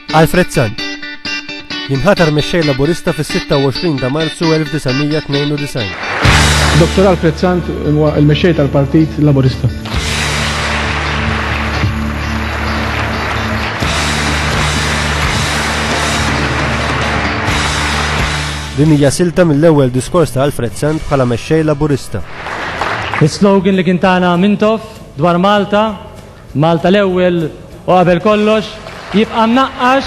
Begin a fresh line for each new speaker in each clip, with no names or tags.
Alfred Sant jinħatar mexxej Laburista fis-26 ta' Marzu 1992.
Dr. Alfred Sant huwa l-mexxej tal-Partit Laburista.
Din hija silta mill-ewwel diskors ta' Alfred Sant bħala mexxej Laburista.
Is-slogan li kien tagħna Mintoff dwar Malta Malta l-ewwel u qabel kollox jibqa' mnaqqax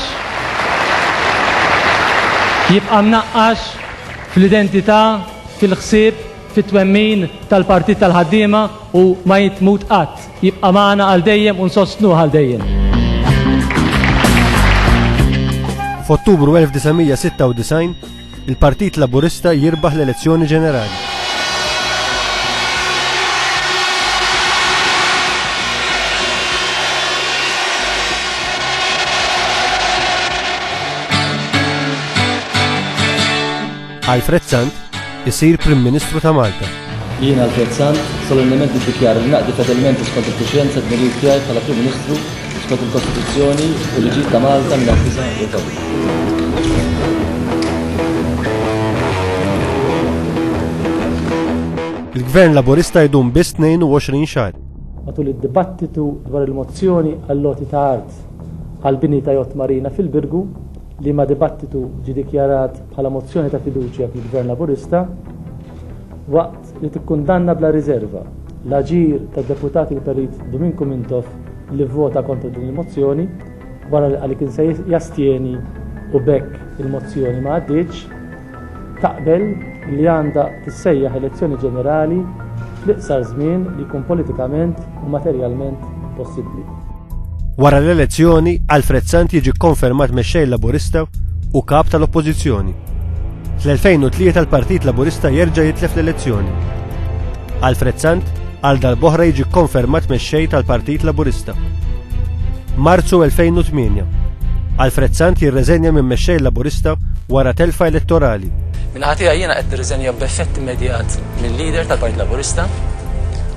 jibqa' mnaqqax fl-identità, fil-ħsieb, fit-twemmin tal-Partit tal-Ħaddiema u ma jitmut qatt. Jibqa' magħna għal dejjem u nsostnuh għal dejjem.
F'Ottubru 1996, Il-Partit Laburista jirbaħ l-elezzjoni ġenerali. Alfred Sant isir Prim Ministru ta' Malta. Jien, Alfred
Sant, solennement niddikjara li naqdi fedelment u skont il-kuxjenza d-dmirijiet tiegħi bħala Prim Ministru skont il-Kostituzzjoni u l-liġijiet ta' Malta mnaqqisa u
l-. Il-Gvern Laburista jdum biss 22 xahar. Matul id-dibattitu
dwar il-mozzjoni għall-għoti ta' art għall-bini ta' Yacht Marina fil-Birgu, liema dibattitu ġie dikjarat bħala mozzjoni ta' fiduċja fil-Gvern Laburista, waqt li tikkundanna bla riżerva l-aġir tad-Deputat il-Perit Duminku Mintoff li vvota kontra din il-mozzjoni wara li qal li kien se jastjeni u b'hekk il-mozzjoni ma għaddietx, taqbel li għandha tissejjaħ elezzjoni ġenerali fl-iqsar żmien li jkun politikament u materjalment possibbli. Wara
l-elezzjoni, Alfred Sant jiġi kkonfermat mexxej Laburista u kap tal-Oppożizzjoni. Fl-2003 l-Partit Laburista jerġa' jitlef l-elezzjoni. Alfred Sant għal dal-boħra jiġi kkonfermat mexxej tal-Partit Laburista. Marzu 2008. Alfred Sant jirreżenja minn mexxej Laburista wara telfa elettorali. Minħatija jiena
qed nirriżenja b'effett immedjat mill-lider tal-Partit Laburista